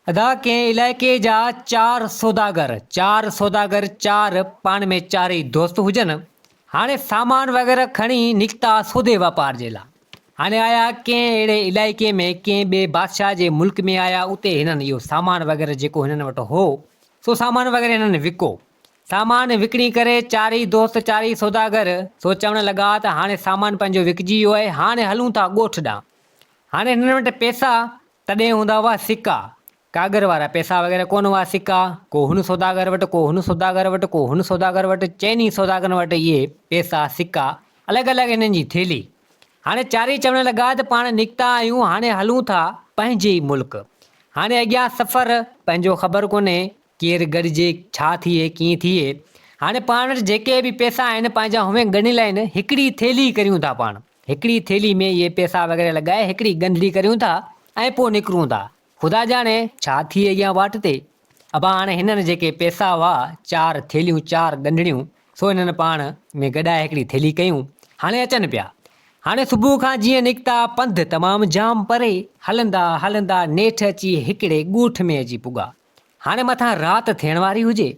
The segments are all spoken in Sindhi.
ادا ڪنهن علائقي جا چار سوداگر چار سوداگر چار پاڻ ۾ چارئي دوست هجن هاڻي سامان وغيره کڻي نڪتا سودي واپار جي لا هاڻي آيا ڪنهن اهڙي علائقي ۾ ڪنهن ٻئي بادشاهه جي ملڪ ۾ آيا اتي هنن اهو سامان وغيره جيڪو هنن وٽ هو سو سامان وغيره هنن وڪو سامان وڪڻي ڪري چارئي دوست چارئي سوداگر سو چوڻ لڳا ته هاڻي سامان پنهنجو وڪجي ويو آهي هاڻي هلون ٿا ڳوٺ ڏانهن هاڻي هنن وٽ پيسا تڏهن هوندا هئا سڪا، ڪاڳر وارا، پئسا وغيره ڪونه هئا، سڪا ڪو هن سوداگر وٽ، ڪو هن سوداگر وٽ، ڪو هن سوداگر وٽ، چئن ئي سوداگرن وٽ اهي پئسا، سڪا، الڳ الڳ انهن جي ٿيلهي. هاڻي چاري چوڻ لڳا ته پاڻ نڪتا آهيون، هاڻي هلون ٿا پنهنجي ئي ملڪ. هاڻي اڳيان سفر پنهنجو خبر ڪونهي، ڪير ڳڙجي، ڇا ٿئي، ڪيئن ٿئي. هاڻي پاڻ وٽ جيڪي به پئسا آهن، پنهنجا هونئن ڳڻي لائين، هڪڙي ٿيلهي ڪريون ٿا پاڻ. هڪڙي ٿيلهي ۾ اهي پئسا وغيره لڳائي هڪڙي ڳنڍڙي ڪريون ٿا ۽ پوء نڪرون ٿا. خدا ڄاڻي، ڇا ٿئي اڳيان واٽ تي. ابا هاڻي هنن جيڪي پئسا هئا، چار ٿيلهيون، چار ڳنڍڙيون، سو هنن پاڻ ۾ گڏائي هڪڙي ٿيلهي ڪيون. هاڻي اچن پيا. هاڻي صبح کان جيئن نڪتا، پنڌ تمام جام پري، هلندا هلندا نيٺ اچي هڪڙي ڳوٺ ۾ اچي پڳا. هاڻي مٿان رات ٿيڻ واري هجي.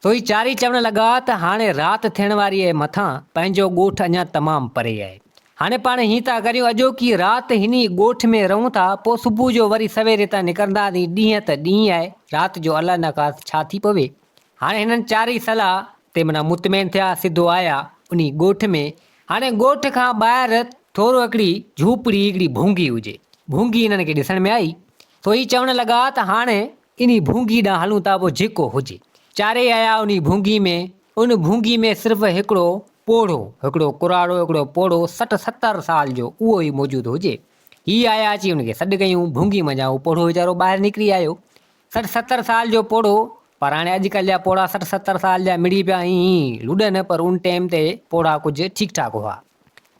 سوئي چاري چوڻ لڳا ته هاڻي رات ٿيڻ واري اهي مٿان پنهنجو ڳوٺ اڃا تمام پري آهي. هاڻي پاڻ هيئن ٿا ڪريون اڄوڪي رات هن ئي ڳوٺ ۾ رهون ٿا پوء صبح جو وري سوير هتان نڪرنداسين ڏينهن ته ڏينهن آهي رات جو الله نه خاست ڇا ٿي پوي. هاڻي هنن چارئي صلاح تي منا مطمئن ٿيا سڌو آيا انهي ڳوٺ ۾. هاڻي ڳوٺ کان ٻاهر ٿورو هڪڙي جهوپڙي هڪڙي ڀونگي هجي. ڀونگي هنن کي ڏسڻ ۾ آئي. ڦوهي چوڻ لڳا ته هاڻ انهي ڀونگي ڏانهن هلون ٿا پوء جيڪو هجي. چارئي آيا انهي ڀونگي ۾. ان ڀونگي ۾ صرف هڪڙو پوڙهو، هڪڙو ڪراڙو، هڪڙو پوڙهو سٺ ستر سال جو اهو ئي موجود هجي. هي آيا اچي ان کي سڏ ڪيون. ڀونگي منجهان اهو پوڙهو ويچارو ٻاهر نڪري آيو. سٺ ستر سال جو پوڙهو. پر هاڻي اڄڪلهه جا پوڙها سٺ ستر سال جا مڙئي پيا ائين ئي لڏن پر ان ٽيم تي پوڙها ڪجهه ٺيڪ ٺاڪ هئا.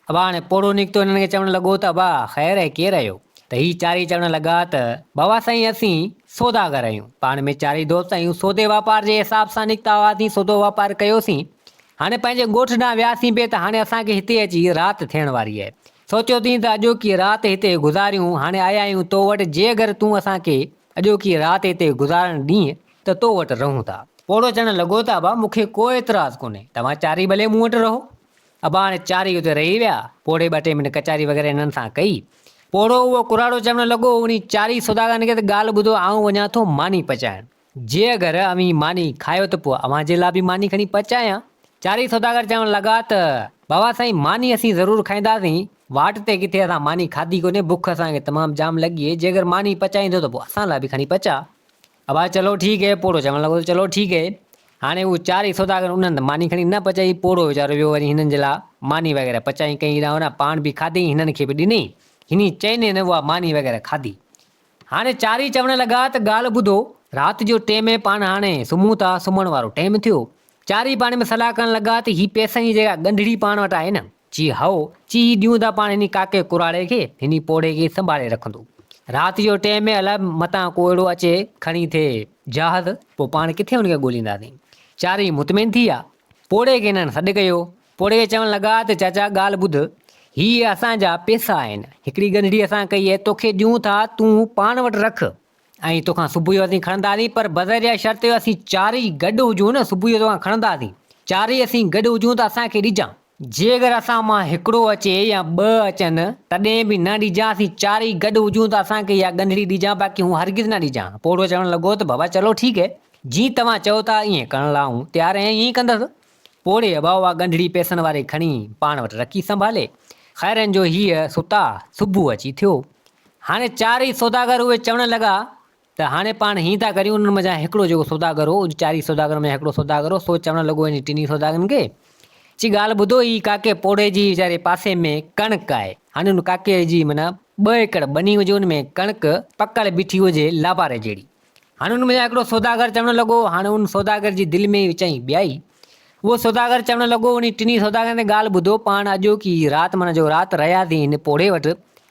ابا هاڻي پوڙهو نڪتو هنن کي چوڻ لڳو ته ابا خير هي ڪير آهيو؟ ته هي چارئي چوڻ لڳا ته بابا سائين اسين سوداگر آهيون پاڻ ۾ چارئي دوست آهيون سودي واپار جي حساب سان نڪتا هئاسين سودو واپار ڪيوسين هاڻي پنهنجي ڳوٺ ڏانهن وياسين به ته هاڻي اسان کي هتي اچي رات ٿيڻ واري آهي سوچيوسين ته اڄوڪي رات هتي گذاريون هاڻي آيا آهيون تو وٽ جي اگر تون اسان کي اڄوڪي رات هتي گذارڻ ڏينهن ته تو وٽ رهون ٿا. پوڙهو چوڻ لڳو ته ابا مون کي ڪو اعتراض ڪونهي توهان چارئي ڀلي مون وٽ رهو اباڻ چارئي اتي رهي ويا. پوڙهي ٻه ٽي منٽ ڪچهري وغيره هنن سان ڪئي. پوڙهو اهو ڪراڙو چوڻ لڳو، اوهين چارئي سوداگرن کي ته ڳالهه ٻڌو، آئون وڃان ٿو ماني پچائڻ. جي اگر اوهين ماني کايو ته پوء اوهان جي لاء به ماني کڻي پچايان. چارئي سوداگر چوڻ لڳا ته، بابا سائين ماني اسين ضرور کائينداسين. واٽ تي ڪٿي اسان ماني کاڌي ڪونهي، بک اسان کي تمام جام لڳي. جي اگر ماني پچائيندو ته پوء اسان لاء به کڻي پچاء. ابا چلو ٺيڪ هي، پوڙهو چوڻ لڳو ته چلو ٺيڪ هي. هاڻي هو چارئي سوداگر انهن هنڌ ماني کڻي نه پچائي، پوڙهو ويچارو ويو وري هنن جي لاء ماني وغيره پچائين ڪئين رانو ران پاڻ به کاڌيئين هنن کي به ڏنئين، هني چئني نه اها ماني وغيره کاڌي. هاڻي چارئي چوڻ لڳا ته ڳالهه ٻڌو، رات جو ٽيم هي پاڻ هاڻي سمهون ٿا، سمهڻ وارو ٽيم ٿيو. چارئي پاڻ ۾ صلاح ڪرڻ لڳا ته هي پئسن جي جيڪا ڳنڍڙي پاڻ وٽ آهي نه، چي هائو، چي هي ڏيون ٿا پاڻ هني ڪاڪي ڪراڙي کي، هني پوڙهي کي سنڀالي رکندو. رات جو ٽئين ۾ الاء متان ڪو اهڙو اچي کڻي ٿئي جهاز، پوء پاڻ ڪٿي هن کي ڳولينداسين. چارئي مطمئن ٿي ويا. پوڙهي کي هنن سڏ ڪيو. پوڙهي کي چوڻ لڳا ته چاچا ڳالهه ٻڌ، هي اسان جا پئسا آهن، هڪڙي ڳنڍڙي اسان ڪئي اهي توکي ڏيون ٿا، تون پاڻ وٽ رک ۽ توکان صبح جو اسين کڻنداسين، پر بظاهر اها شرط جو اسين چارئي گڏ هجون، صبح جو توکان کڻنداسين. چارئي اسين گڏ هجون ته اسان کي ڏجان. جيڪر اسان مان هڪڙو اچي يا ٻه اچن، تڏهن به نه ڏجان، اسين چارئي گڏ هجون ته اسان کي اها ڳنڍڙي ڏجان، باقي هون هرگز نه ڏجان. پوڙهو چوڻ لڳو ته بابا چلو ٺيڪ هي، جيئن توهان چئو ٿا ائين ڪرڻ لاء آئون تيار آهيان، ائين ئي ڪندس. پوڙهي ابا اها ڳنڍڙي پئسن واري کڻي پاڻ وٽ رکي سنڀالي. خيرن جو هيء ستا، صبح اچي ٿيو. هاڻي چارئي سوداگر اهي چوڻ لڳا ته هاڻي پاڻ هيئن ٿا ڪريون، انهن منجهان هڪڙو جيڪو سوداگر هو، ان چارئي سوداگرن منجهان هڪڙو سوداگر هو، سو چوڻ لڳو انهن ٽنهي سوداگرن کي، چي ڳالهه ٻڌو هي ڪاڪي پوڙهي جي ويچاري پاسي ۾ ڪڻڪ آهي، هاڻي ان ڪاڪي جي معنيٰ ٻه ايڪڙ ٻني هجي ان ۾ ڪڻڪ پڪل بيٺي هجي لاباري جهڙي، هاڻي ان منجهان هڪڙو سوداگر چوڻ لڳو، هاڻي ان سوداگر جي دل ۾ هي ويچائي ٻيائي، اهو سوداگر چوڻ لڳو، انهي ٽنهي سوداگرن تي ڳالهه ٻڌو، پاڻ اڄوڪي ئي رات معنيٰ جو رات رهياسين هن پوڙهي وٽ،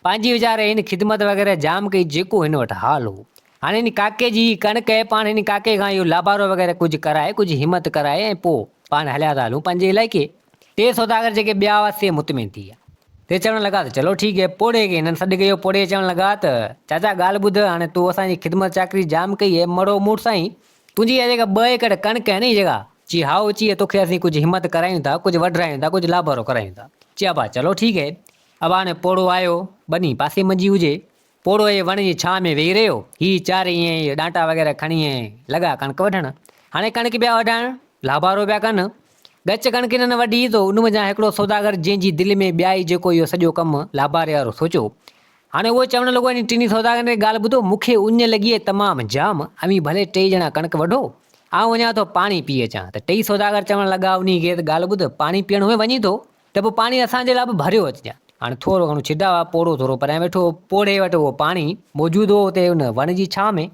پنهنجي ويچاري هن خدمت وغيره جام ڪئي جيڪو هن وٽ حال هو. هاڻي هن ڪاڪي جي ئي ڪڻڪ اهي پاڻ هن ڪاڪي کان اهو لابارو وغيره ڪجهه ڪرائي ڪجهه همت ڪرائي ۽ پوء پاڻ هليا ٿا هلون پنهنجي علائقي. ٽي سوداگر جيڪي ٻيا هئا سي مطمئن ٿي ويا. سي چوڻ لڳا ته چلو ٺيڪ هي. پوڙهي کي هنن سڏ ڪيو، پوڙهي چوڻ لڳا ته چاچا ڳالهه ٻڌ، هاڻي تو اسان جي خدمت چاڪري جام ڪئي اهي مڙو موٽ سائين تنهنجي اها جيڪا ٻه ايڪڙ ڪڻڪ آهي نه، هي جيڪا؟ چي، هائو اچيء، توکي اسين ڪجهه همت ڪرايون ٿا، ڪجهه وڍرايون ٿا، ڪجهه لابرو ڪرايون ٿا. چي، ابا چلو ٺيڪ هي. ابا هاڻي پوڙهو آيو، ٻني پاسي منجي هجي. پوڙهو هي وڻ جي ڇانء ۾ ويهي رهيو. هي چار ائين ئي ڏانٽا وغيره کڻي ائين لڳا ڪڻڪ وڍڻ. هاڻي ڪڻڪ پيا وڍائڻ، لابارو پيا ڪن. ڳچ ڪڻڪ هنن وڍي، تو ان منجهان هڪڙو سوداگر جنهن جي دل ۾ ٻيائي جيڪو اهو سڄو ڪم لاباري وارو سوچيو، هاڻي اهو چوڻ لڳو، انهن ٽنهي سوداگرن ري ڳالهه ٻڌو، مون کي اڃ لڳي آهي تمام جام، اوهين ڀلي ٽيئي ڄڻا ڪڻڪ وڍو، آئون وڃان ٿو پاڻي پيئي اچان. ته ٽيئي سوداگر چوڻ لڳا، انهي غير ڳالهه ٻڌ، پاڻي پيئڻ هونئن وڃين ٿو، ته پوء پاڻي اسان جي لاء به ڀريو اچجان. هاڻي ٿورو گهڻو ڇڊاء، پوڙهو ٿورو پريان ويٺو هو، پوڙهي وٽ اهو پاڻي موجود هو، اتي ان وڻ جي ڇانو ۾،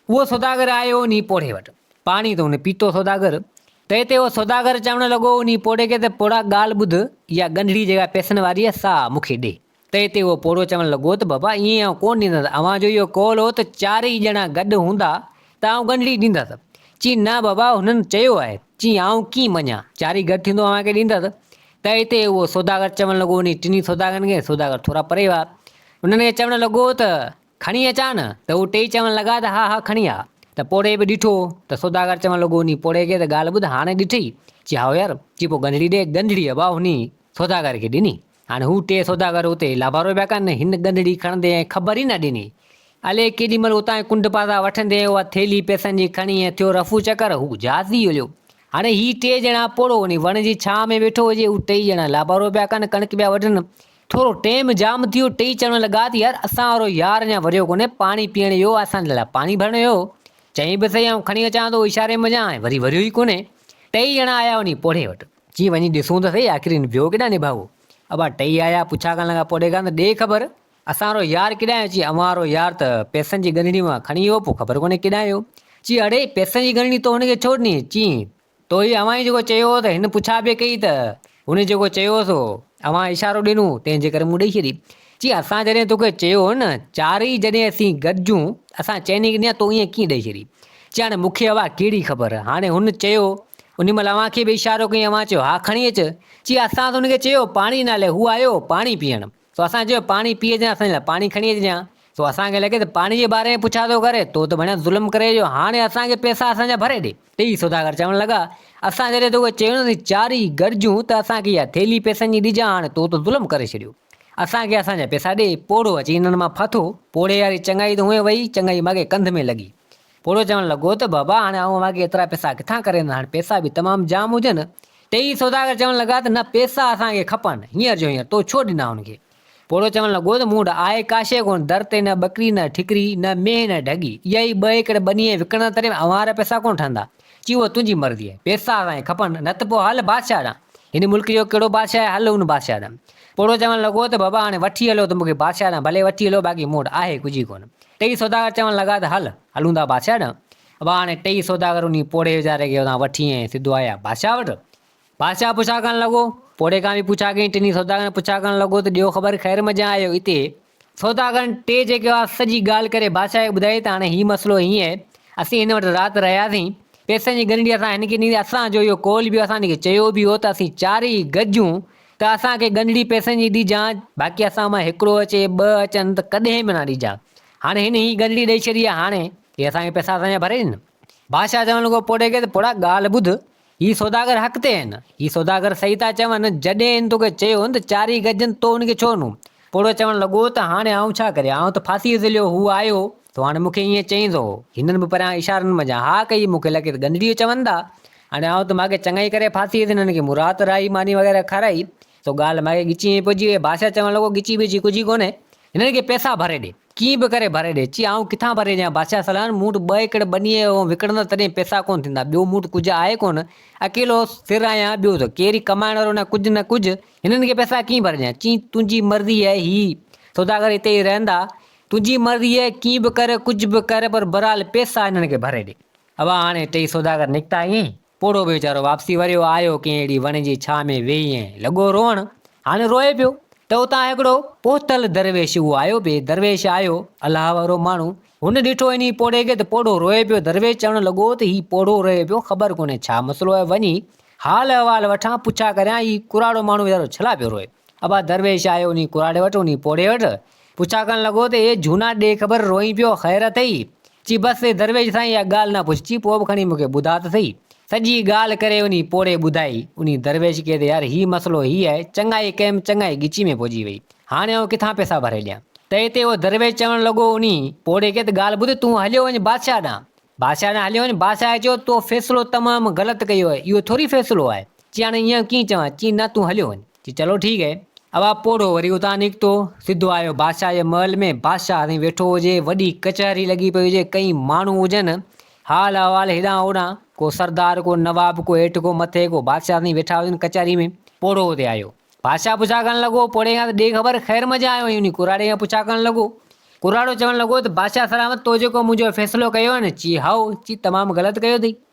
اهو سوداگر آيو انهي پوڙهي وٽ، پاڻي ته هن پيتو سوداگر، ته اتي اهو سوداگر چوڻ لڳو، انهي پوڙهي کي ته پوڙها ڳالهه ٻڌ، اها ڳنڍڙي جيڪا پئسن واري آهي، سا مون کي ڏي. تنهن تي اهو پوڙهو چوڻ لڳو ته بابا ائين آئون ڪونه ڏيندس، اوهان جو اهو قول هو ته چار ئي ڄڻا گڏ هوندا ته آئون ڳنڍڙي ڏيندس. چيائين نه بابا هنن چيو آهي. چيائين آئون ڪيئن مڃان، چارئي گڏ ٿيندو اوهان کي ڏيندس. تنهن تي اهو سوداگر چوڻ لڳو انهي ٽنهي سوداگرن کي، سوداگر ٿورا پري هئا، انهن کي چوڻ لڳو ته کڻي اچان نه؟ ته هو ٽيئي چوڻ لڳا ته ها ها کڻي آ. ته پوڙهي به ڏٺو ته سوداگر چوڻ لڳو انهي پوڙهي کي ته ڳالهه ٻڌ هاڻي ڏٺئي؟ چي هائو يار. چي پوء ڳنڍڙي ڏي، ڳنڍڙي بابا انهي سوداگر کي ڏني. هاڻي هو ٽي سوداگر اتي لابارو پيا ڪن، هن ڳنڌڙي کڻندي ۽ خبر ئي نه ڏني. الي ڪيڏي مهل اتان جي ڪنڊ پاسا وٺندي ۽ اها ٿيلهي پئسن جي کڻي ۽ ٿيو رفو چڪر، هو جهاز ڏي هليو. هاڻي هي ٽي ڄڻا پوڙهو انهي وڻ جي ڇانء ۾ ويٺو هجي، هو ٽئي ڄڻا لابارو پيا ڪن، ڪڻڪ پيا وڍن. ٿورو ٽيم جام ٿيو، ٽئي چوڻ لڳا ته يار اسان وارو يار اڃا وريو ڪونهي، پاڻي پيئڻ ايو آهي، اسان لاء پاڻي ڀرڻ ايو هو. چئين به سهي آئون کڻي اچان ٿو، هو اشاري منجهان ۽ وري وريو ئي ڪونهي. ٽئي ڄڻا آيا انهي پوڙهي وٽ. چي وڃي ڏسون ته سهي آخر هن ڀيو ڪيڏانهن نڀاڳو. ابا ٽهي آيا، پڇا ڪرڻ لڳا، پوء ڏيکان ته ڏي خبر، اسان رو يار ڪيڏانهن اچي اوهان رو يار ته پئسن جي ڳنڍڙي مان کڻي ويو، پوء خبر ڪونهي ڪيڏانهن ويو. چي اڙي، پئسن جي ڳنڍڙي تو هن کي ڇو ڏني؟ چي تو هي اوهان ئي جيڪو چيو هو ته هن پڇا به ڪئي ته هن جيڪو چيو هو سو اوهان اشارو ڏنو تنهن جي ڪري مون ڏئي ڇڏي. چي اسان جڏهن توکي چيو هو نه چارئي جڏهن اسين گڏجون اسان چئني ڪنيا تو ائين ڪيئن ڏئي ڇڏي چي هاڻي مون کي اها ڪهڙي خبر هاڻي هن چيو انهي مهل اوهان کي به اشارو ڪيائين اوهان چيو ها کڻي اچ چي اسان هن کي چيو پاڻي نالي هو آيو پاڻي پيئڻ سو اسان چيو پاڻي پيئي اچ اسان جي لاء پاڻي کڻي اچ جان سو اسان کي لڳي ته پاڻي جي باري ۾ پڇا ٿو ڪري تو ته ڀڻيا ظلم ڪري اهو هاڻي اسان کي پئسا اسان جا ڀري ڏي ٽيئي سوداگر چوڻ لڳا، اسان جڏهن توکي چيو نه چارئي گڏجون ته اسان کي اها ٿيلهي پئسن جي ڏجان هاڻ تو ته ظلم ڪري ڇڏيو. اسان کي اسان جا پئسا ڏي. پوڙهو اچي هنن مان ڦٿو. پوڙهي واري چڱائي ته اونهي وئي، چڱائي ماڳهي ڪنڌ ۾ لڳي. پوڙهو چوڻ لڳو ته بابا هاڻ آئون اوهان کي ايترا پئسا ڪٿان ڪري ڏيان، هاڻ پئسا به تمام جام هجن. ٽيئي سوداگر چوڻ لڳا ته نه پئسا اسان کي کپن، هينئر جو هينئر تو ڇو ڏنا هن کي. پوڙهو چوڻ لڳو ته مون وٽ آهي ڪا شيء ڪونه، در تي نه ٻڪري نه ٺڪري، نه مينهن نه ڍڳي، اها ئي ٻه ايڪڙ ٻنيء کي وڪڻڻ تڏهن به اوهان وارا پئسا ڪونه ٺهندا. چي اهو تنهنجي مرضي آهي. پئسا اسان کي کپن، نه ته پوء هل بادشاهه ڏانهن. هن ملڪ جو ڪهڙو بادشاهه آهي، هل ان بادشاهه ڏانهن. پوڙهو چوڻ لڳو ته بابا هاڻي وٺي هلو ته مون کي بادشاهه ڏانهن ڀلي وٺي هلو، باقي مون وٽ آهي ڪجهه ئي ڪونه. ٽيئي سوداگر چوڻ لڳا ته هل، هلون ٿا بادشاهه ڏانهن. بابا هاڻي ٽيئي سوداگر انهيء پوڙهي ويچاري کي اتان وٺي ائين سڌو آيا بادشاهه وٽ. بادشاهه پڇا ڪرڻ لڳو، پوڙهي کان به پڇا ڪيائين، ٽنهي سوداگرن کان پڇا ڪرڻ لڳو ته ڏيو خبر خير مجان آيو اتي. سوداگرن ٽي جيڪي هئا سڄي ڳالهه ڪري بادشاهه کي ٻڌائي ته هاڻي هي مسئلو هيئن آهي، اسين هن وٽ رات رهياسين، پئسن جي ڳنڍي اسان هن کي ڏني، اسان جو اهو قول به هو، اسان هن کي چيو به هو ته اسين چارئي گڏجون ته اسان کي ڳنڍڙي پئسن جي ڏجان، باقي اسان مان هڪڙو اچي، ٻه اچن ته ڪڏهن به نه ڏجان، هاڻي هن هي ڳنڍڙي ڏئي ڇڏي آهي، هاڻي هي اسان کي پئسا اسان جا ڀري ڏندا. بادشاهه چوڻ لڳو پوڙهي کي ته پوڙها ڳالهه ٻڌ، هي سوداگر حق تي هين. هي سوداگر صحيح ٿا چون، جڏهن هن توکي چيو هن ته چاري گجن تو هن کي ڇو نو؟ پوڙهو چوڻ لڳو ته هاڻي آئون ڇا ڪريان، آئون ته ڦاسيء ذليو، هو آيو هو تو هاڻي مون کي ائين چئين ٿو. هنن به پريان اشارن منجهان ها ڪئي، مون کي لڳي ته گندڙيو چون ٿا. هاڻي آئون ته ماڳهين چڱائي ڪري ڦاسيء ذليو هنن کي مرا ته راهي ماني وغيره کارائي، سو ڳالهه ماڳهي ڳچيء ۾ پئجي ويئي. بادشاهه چوڻ لڳو، ڳچي ٻچي ڪجهه ڪونهي. هنن کي پئسا ڀري ڏي. ڪيئن به ڪري ڀري ڏي. چي، آئون ڪٿان ڀري ڏيان بادشاهه سلان، مون وٽ ٻه ايڪڙ ٻنيء جو هون وڪڻندس تڏهن پئسا ڪونه ٿيندا. ٻيو مون وٽ ڪجهه آهي ڪونه. اڪيلو سر آهيان. ٻيو ته ڪير ئي ڪمائڻ وارو نه ڪجهه نه ڪجهه. هنن کي پئسا ڪيئن ڀري ڏيان. چيائين، تنهنجي مرضي آهي. هي سوداگر هتي ئي رهندا. تنهنجي مرضي آهي. ڪيئن به ڪر ڪجهه به ڪر پر بهرحال پئسا هنن کي ڀري ڏي. اڀا هاڻي ٽيئي سوداگر نڪتا ائين ئي. پوڙهو به ويچارو واپسي وريو آيو ڪنهن اهڙي وڻ جي ڇانء ۾ ويهي ۽ لڳو روئڻ. هاڻ روئي پيو ته اتان هڪڙو پهتل درويش اهو آيو به درويش آيو الله وارو ماڻهو. هن ڏٺو انهيء پوڙهي کي ته پوڙهو روئي پيو درويش چوڻ لڳو ته هي پوڙهو روئي پيو خبر ڪونهي ڇا مسئلو آهي وڃي حال احوال وٺان پڇا ڪريان هي ڪراڙو ماڻهو ويچارو ڇلا پيو روئي. ابا درويش آيو انهيء ڪراڙي وٽ انهيء پوڙهي وٽ پڇا ڪرڻ لڳو ته اي جھونا ڏي خبر روئين پيو خير اٿئي؟ چي بس اي درويش سائين اها ڳالهه نه پڇ چي پوء به کڻي مون کي ٻڌاء ته سهي. سڄي ڳالهه ڪري انهي پوڙهي ٻڌائي. انهي درويش کي ته يار هي مسئلو هي آهي چڱائي ڪيم چڱائي ڳچي ۾ پئجي وئي هاڻي آئون ڪٿان پئسا ڀري ڏيان. تئي تي اهو درويش چوڻ لڳو انهي پوڙهي کي ته ڳالهه ٻڌ تون هليو وڃ بادشاهه ڏانهن بادشاهه ڏانهن هليو وڃ بادشاهه چيو تو فيصلو تمام غلط ڪيو اهي اهو ٿوري فيصلو آهي چي هاڻي ايئن ڪيئن چوان چي نه تون هليو وڃ. چي چلو ٺيڪ هي. اوا پوڙهو وري اتان نڪتو، سڌو آيو بادشاهه جي محل ۾، بادشاهه هتي ويٺو هجي، وڏي ڪچهري لڳي پئي هجي، ڪئين ماڻهو هجن، حال احوال هيڏانهن هوڏانهن، ڪو سردار، ڪو نواب، ڪو هيٺ، ڪو مٿي، ڪو بادشاهه سائين ويٺا هجن ڪچهري ۾. پوڙهو هتي آيو، بادشاهه پڇا ڪرڻ لڳو، پوڙهي کان ته ڏي خبر، خير مزا آيو هين؟ ڪراڙي کان پڇا ڪرڻ لڳو، ڪراڙو چوڻ لڳو ته بادشاهه سلامت، تو جيڪو منهنجو فيصلو ڪيو هين؟ چي هائو، چي تمام غلط ڪيو اٿئي،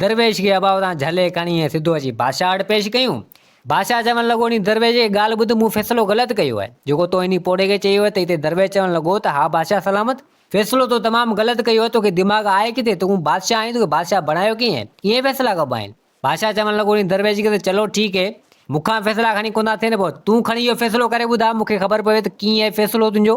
درويش کي ابا اتان جهلي کڻي ۽ سڌو اچي بادشاهه وٽ پيش ڪيون. بادشاهه چوڻ لڳو ني درويش هيء ڳالهه ٻڌ مون فيصلو غلط ڪيو آهي، جيڪو تو انهي پوڙهي کي چيو آهي ته هتي درويش چوڻ لڳو ته ها بادشاهه سلامت، فيصلو تو تمام غلط ڪيو آهي، توکي دماغ آهي ڪٿي، تون بادشاهه آهين، توکي بادشاهه بڻايو ڪنهن؟ ائين فيصلا ڪبا آهن؟ بادشاهه چوڻ لڳو ني درويش کي ته چلو ٺيڪ هي، مون کان فيصلا کڻي ڪونه ٿا ٿين، پوء تون کڻي اهو فيصلو ڪري ٻڌاء، مون کي خبر پوي ته ڪيئن آهي فيصلو تنهنجو،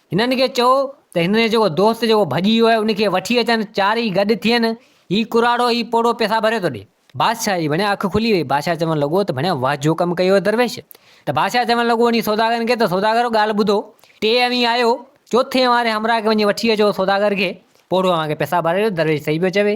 هنن کي چئو ته هن جو جيڪو دوست جيڪو ڀڄي ويو آهي ان کي وٺي اچن، چارئي گڏ ٿين، هي ڪراڙو هي پوڙهو پئسا ڀري ٿو ڏي. بادشاهه جي ڀڻيا اک کلي وئي، بادشاهه چوڻ لڳو ته ڀڻيا واھ جو ڪم ڪيو اٿ درويش. ته بادشاهه چوڻ لڳو وڃي سوداگرن کي ته سوداگرو ڳالھ ٻڌو، ٽي اوهين آيو، چوٿين اوهان واري همراهه کي وڃي وٺي اچو سوداگر کي، پوڙهو اوهان کي پئسا ڀرائي ويو، درويش صحيح پيو چوي،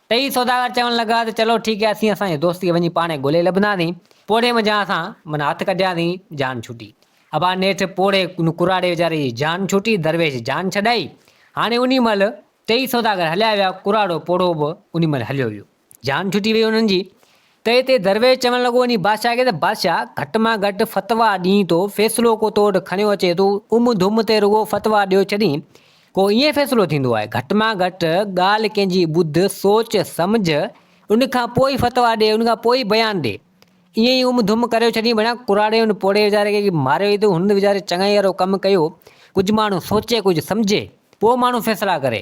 ٽئي سوداگر چوڻ لڳا ته چلو ٺيڪ آهي اسين اسان جي دوست کي وڃي پاڻهي ڳولهي لڀنداسين. پوڙهي منجهان اسان من هٿ ڪڍياسين، جان ڇٽي. ابا نيٺ پوڙهي ان ڪراڙي ويچاري جي جان ڇٽي، درويش جان ڇڏائي. هاڻي انهي مهل ٽئي سوداگر هليا ويا، ڪراڙو پوڙهو به انهي مهل هليو ويو. جان ڇٽي ويئي انهن جي. تئي تي درويش چوڻ لڳو انهي بادشاهه کي ته بادشاهه گهٽ مان گهٽ فتويٰ ڏين تو فيصلو ڪو تو وٽ کڻيو اچي تون ام ڌم تي رڳو فتويٰ ڏيو ڇڏين ڪو ائين فيصلو ٿيندو آهي گهٽ مان گهٽ ڳالهه ڪنهن جي ٻڌ سوچ سمجهه ان کان پوء ئي فتويٰ ڏي ان کان پوء ئي بيان ڏي ائين ئي ام ڌم ڪريو ڇڏين ڀيڻا ڪراڙي ان پوڙهي ويچاري کي ماريو ئي ته هن ويچاري چڱائي وارو ڪم ڪيو ڪجهه ماڻهو سوچي ڪجهه سمجهي پوء ماڻهو فيصلا ڪري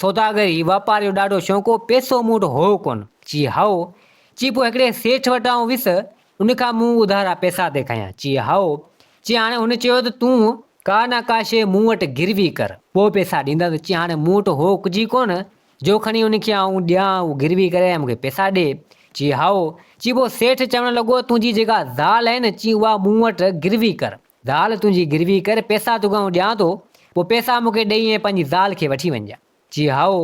سوداگري، واپار جو ڏاڍو شوق هو، پئسو مون وٽ هو ڪونه؟ چي هائو! چي پوء هڪڙي سيٺ وٽ آئون ويس، ان کان مون اڌارا پئسا ٿي کنيان؟ چي هائو! چي هاڻي هن چيو ته تون ڪا نه ڪا شيء مون وٽ گروي ڪر، پوء پئسا ڏيندس. چي هاڻي مون وٽ هو ڪجهه ئي ڪونه، جو کڻي ان کي آئون ڏيان، هو گروي ڪري ۽ مون کي پئسا ڏي؟ چي هائو! چي پوء سيٺ چوڻ لڳو، تنهنجي جيڪا زال آهي نه، چي اها مون وٽ گروي ڪر. زال تنهنجي گروي ڪر، پئسا توکي آئون ڏيان ٿو، پوء پئسا مون کي ڏئي ۽ پنهنجي زال کي وٺي وڃجان. چي هائو.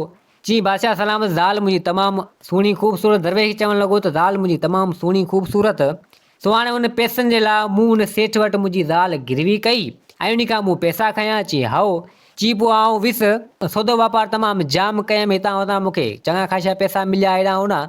چي بادشاهه سلامت زال منهنجي تمام سهڻي خوبصورت درويش چوڻ لڳو ته زال منهنجي تمام سهڻي خوبصورت، سو هاڻي ان پئسن جي لاء مون ان سيٺ وٽ منهنجي زال گروي ڪئي ۽ انهي کان مون پئسا کنيا؟ چي هائو. چي پوء آئون ويس، سودو واپار تمام جام ڪيم، هتان هتان مون کي چڱا خاشا پئسا مليا هيڏانهن هوڏانهن،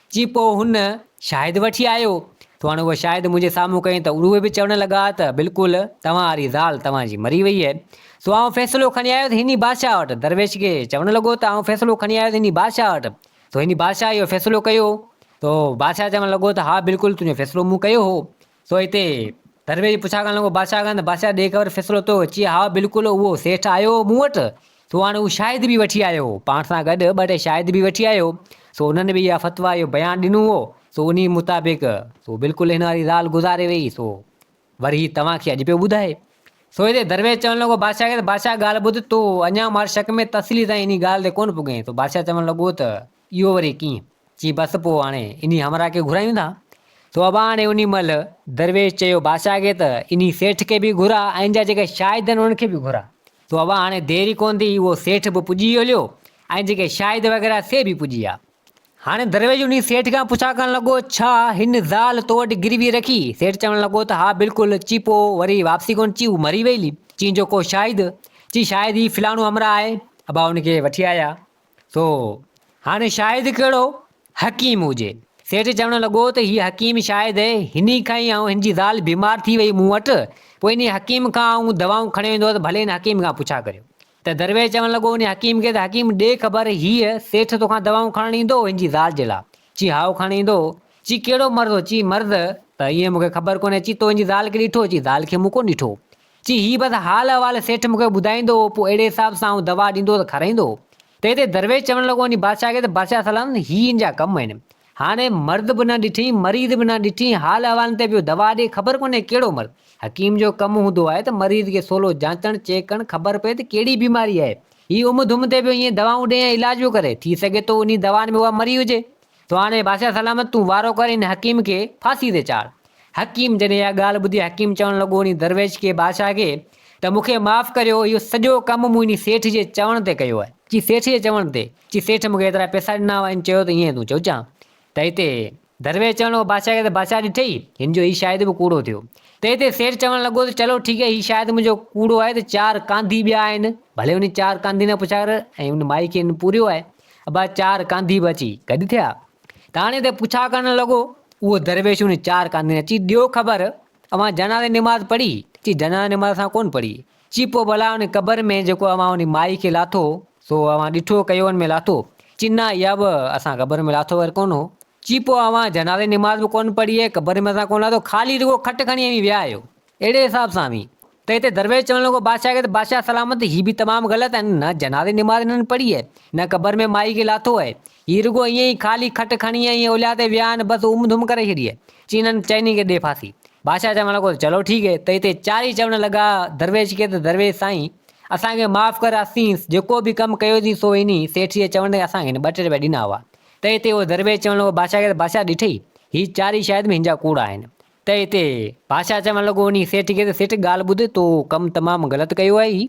جي پوء هن شاهد وٺي آيو ته هاڻي هوء شاهد منهنجي سامهون ڪئين ته اڙوهي به چوڻ لڳا ته بلڪل توهان واري زال توهان جي مري وئي هي سو آئون فيصلو کڻي آيو ٿي هن ئي بادشاهه وٽ درويش کي چوڻ لڳو ته آئون فيصلو کڻي آيو ٿي هن ئي بادشاهه وٽ سو هن ئي بادشاهه اهو فيصلو ڪيو ته بادشاهه چوڻ لڳو ته ها بلڪل تنهنجو فيصلو مون ڪيو هو سو هتي درويش پڇا ڪرڻ لڳو، بادشاهه کان ته بادشاهه ڏي خبر فيصلو ٿيو؟ چي، هائو، بلڪل اهو سيٺ آيو هو مون وٽ، سو هاڻي هو شاهد به وٺي آيو هو، پاڻ سان گڏ ٻه ٽي شاهد به وٺي آيو هو، سو انهن به اها فتويٰ، اهو بيان ڏنو هو، سو انهيء مطابق سو بلڪل هن واري زال گذاري ويئي، سو وري هي توهان کي اڄ پيو ٻڌائي. سو هتي درويش چوڻ لڳو بادشاهه کي ته بادشاهه ڳالهه ٻڌ، تو اڃا مارشڪ ۾ تحصيلي تائين انهيء ڳالهه تي ڪونه پڳئين، سو بادشاهه چوڻ لڳو ته. اهو وري ڪيئن؟ چي بس پوء هاڻي انهي همراهه کي گهرايون ٿا. تو ابا هاڻي انهي مهل درويش چيو بادشاهه کي ته انهي سيٺ کي به گهراء ۽ جا جيڪي شاهد آهن انهن کي به گهراء. تو ابا هاڻي دير ئي ڪونه ٿي اهو سيٺ به پڄي هليو ۽ جيڪي شاهد وغيره سي به پڄي آيا. هاڻي درويش انهي سيٺ کان پڇا ڪرڻ لڳو ڇا هن زال تو وٽ گروي رکي؟ سيٺ چوڻ لڳو ته ها بلڪل. چي پوء وري واپسي ڪونه؟ چي هو مري ويئي. چي جو ڪو شاهد؟ چي شاهد هي فلاڻو همراهه آهي. ابا انهي کي وٺي آيا. ٿو. هاڻي شاهد ڪهڙو حڪيم هجي. سيٺ چوڻ لڳو ته هي حڪيم شاهد هني کان ئي آئون هن جي زال بيمار ٿي وئي مون وٽ پوء انهي حڪيم کان آئون دوائون کڻي ويندو هوس ڀلي ان حڪيم کان پڇا ڪريو ته درويش چوڻ لڳو انهي حڪيم کي ته حڪيم ڏي خبر هيء سيٺ توکان دوائون کڻڻ ايندو هن جي زال جي لاء چي هائو کڻڻ ايندو چي ڪهڙو مرض هو چي مرض ته ائين مون کي خبر ڪونهي چي تو هن جي زال کي ڏٺو چي زال کي مون ڪونه ڏٺو چي هي بس حال احوال سيٺ مون کي ٻڌائيندو هو، پوء اهڙي حساب سان آئون دوا ڏيندو هو ته کارائيندو هو. تنهن تي درويش چوڻ لڳو وڃي بادشاهه کي ته بادشاهه سلام هي هن جا ڪم آهن. هاڻي مرد به نه ڏٺئين، مريض به نه ڏٺئين، حال احوالن تي پيو دوا ڏي، خبر ڪونهي ڪهڙو مرض. حڪيم جو ڪم هوندو آهي ته مريض کي سولو جانچڻ، چيڪ ڪرڻ، خبر پئي ته ڪهڙي بيماري آهي. هي امّ ڌمّ تي پيو ائين دوائون ڏي ۽ علاج پيو ڪري. ٿي سگهي ٿو انهي دوائن ۾ اها مري هجي. تو هاڻي بادشاهه سلامت تون وارو ڪر ان حڪيم کي ڦاسي تي چاڙهه. حڪيم جڏهن اها ڳالهه ٻڌي حڪيم چوڻ لڳو انهي درويش کي، بادشاهه کي، ته مون کي معاف ڪريو اهو سڄو ڪم مون انهي سيٺ جي چوڻ تي ڪيو آهي. چي سيٺ جي چوڻ تي؟ چي سيٺ مون کي ايترا پئسا ڏنا هئا ان چيو ته ايئن تون چوجان ته هتي درويش چوڻ لڳو بادشاهه کي ته بادشاهه ڏٺئي هن جو هي شايد به ڪوڙو ٿيو ته هتي سيٺ چوڻ لڳو ته چلو ٺيڪ آهي هي شايد منهنجو ڪوڙو آهي ته چار ڪانڌي ٻيا آهن ڀلي انهي چار ڪانڌين کان پڇا ڪر ۽ ان مائي کي هن پوريو آهي ابا چار ڪانڌي به اچي گڏ ٿيا. ٿاڻي تي پڇا ڪرڻ لڳو. اهو درويش ان چار ڪانڌين اچي ڏيو خبر اوهان جنازي جي نماز پڙهي؟ چي جنازي جي نماز اسان ڪونه پڙهي. چي پوء ڀلا ان قبر ۾ جيڪو اوهان ان مائي کي لاٿو سو اوهان ڏٺو ڪيو ان ۾ لاٿو؟ چي نه اها به اسان قبر ۾ لاٿو ور ڪونه هو. چي پوء اوهان جنازي جي نماز به ڪونه پڙهي ۽ قبر ۾ اسان ڪونه لاٿو خالي رڳو کٽ کڻي اوهين ويا آهيو. اهڙي حساب سان وي ته هتي درويش چوڻ لڳو بادشاهه کي ته بادشاهه سلامت هي به تمام غلط آهن نه جنازي نماز هنن پڙهي اهي نه قبر ۾ مائي کي لاٿو اهي هي رڳو ائين ئي خالي کٽ کڻي ائين ئي اوليا تي ويا آهن بس ام ڌم ڪري ڇڏي اهي چين هن چئني کي ڏي ڦاسي بادشاهه چوڻ لڳو ته چلو ٺيڪ اهي ته هتي چارئي چوڻ لڳا درويش کي ته درويش سائين اسان کي معاف ڪر اسين جيڪو به ڪم ڪيو سين سو انهي سيٺ جي چوڻ تي اسان کي هن ٻه ٽي رپيا ڏنا هئا ته هتي اهو درويش چوڻ لڳو بادشاهه کي ته بادشاهه ڏٺئي هي چارئي شايد به هن جا ڪوڙا آهن ته اتي بادشاهه چوڻ لڳو وڃي سيٺ کي ته سيٺ ڳالهه ٻڌ تو ڪم تمام غلط ڪيو اهي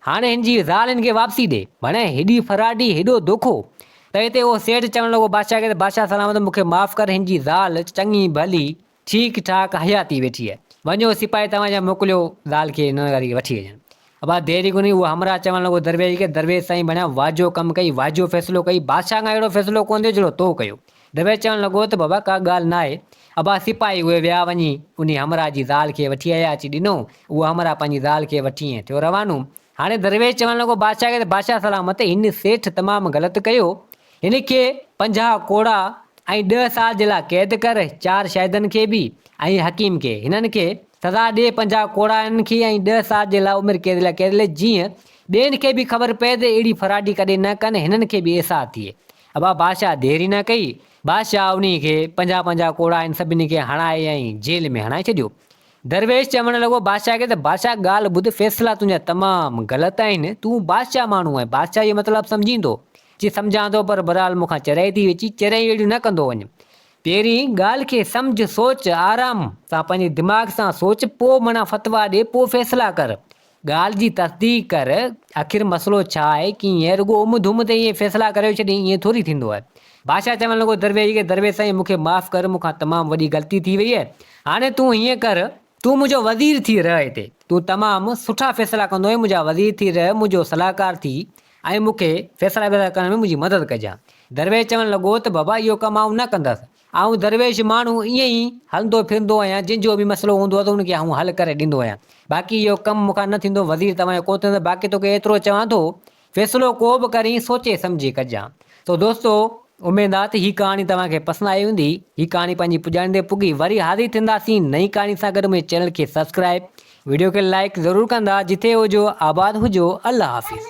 هاڻي هن جي زال هن کي واپسي ڏي ڀڻي هيڏي ڦراٽي هيڏو دوکو ته اتي اهو سيٺ چوڻ لڳو بادشاهه کي ته بادشاهه سلامت مون کي معاف ڪر هن جي زال چڱي ڀلي ٺيڪ ٺاڪ حياتي ويٺي اهي وڃو سپاهي توهان جا موڪليو زال کي ننگاري کي وٺي اچن ابا دير ئي ڪونهي، اهو همراهه چوڻ لڳو درويش کي، درويش سائين ڀڻيا واجهو ڪم ڪئي، واجهو فيصلو ڪئي، بادشاهه کان اهڙو فيصلو ڪونه ٿيو جهڙو تو ڪيو. درويش چوڻ لڳو ته بابا ڪا ڳالهه ناهي. ابا سپاهي اهي ويا وڃي انهي همراهه جي زال کي وٺي آيا اچي ڏنو، اهو همراهه پنهنجي زال کي وٺي ۽ ٿيو روانو. هاڻي درويش چوڻ لڳو بادشاهه کي ته بادشاهه سلامت هن سيٺ تمام غلط ڪيو، هن کي پنجاهه ڪوڙا ۽ ڏهه سال جي لاء قيد ڪر، چار شاهدن کي به ۽ حڪيم کي، هنن کي سزا ڏي، پنجاهه ڪوڙا هنن کي ۽ ڏهه سال جي لاء عمر قيد لاء قيد لک، جيئن ٻين کي به خبر پئي ته اهڙي فراڊي ڪڏهن نه ڪن، هنن کي به احساس ٿئي. ابا بادشاهه ديري نه ڪئي، بادشاهه انهي کي پنجاهه پنجاهه ڪوڙا هنن سڀني کي هڻائي ۽ جيل ۾ هڻائي ڇڏيو. درويش چوڻ لڳو بادشاهه کي ته بادشاهه ڳالهه ٻڌ، فيصلا تنهنجا تمام غلط آهن، تون بادشاهه ماڻهو آهين، بادشاهي جو مطلب سمجهين ٿو، جي سمجهان ٿو پر برحال مون کان چريائي ٿي ويچي چريائي اهڙيون نه ڪندو وڃ پهرين ڳالهه کي سمجهه سوچ آرام سان پنهنجي دماغ سان سوچ پو منا فتويٰ ڏي پو فيصلا ڪر ڳالهه جي تصديق ڪر اخر مسئلو ڇا آهي ڪيئن آهي رڳو ام ڌم تي ائين فيصلا ڪريو ڇڏين ائين ٿوري ٿيندو آهي بادشاهه چوڻ لڳو درويش کي درويش سائين مون کي معاف ڪر مون کان تمام وڏي غلطي ٿي وئي آهي هاڻي تون ائين ڪر تون منهنجو وزير ٿي رهه هتي، تون تمام سٺا فيصلا ڪندو آهين، منهنجا وزير ٿي رهه، منهنجو صلاحڪار ٿي ۽ مون کي فيصلا ويصلا ڪرڻ ۾ منهنجي مدد ڪجان. درويش چوڻ لڳو ته بابا اهو ڪم آئون نه ڪندس، آئون درويش ماڻهو ائين ئي هلندو ڦرندو آهيان، جنهن جو به مسئلو هوندو آهي ته ان کي آئون حل ڪري ڏيندو آهيان، باقي اهو ڪم مون کان نه ٿيندو، وزير توهان جو ڪو ٿيندو، باقي توکي ايترو چوان ٿو فيصلو ڪو به ڪرين سوچي سمجهي ڪجان. سو دوستو اميد آ ته هي ڪهاڻي توهان کي پسند آئي هوندي. هي ڪهاڻي پنهنجي پڄاڻي تي پڳي وري حاضر ٿينداسين نئين ڪهاڻي سان گڏ منهنجي چينل کي سبسڪرائيب وڊيو کي لائيڪ ضرور ڪندا جٿي هجو آباد هجو الله حافظ.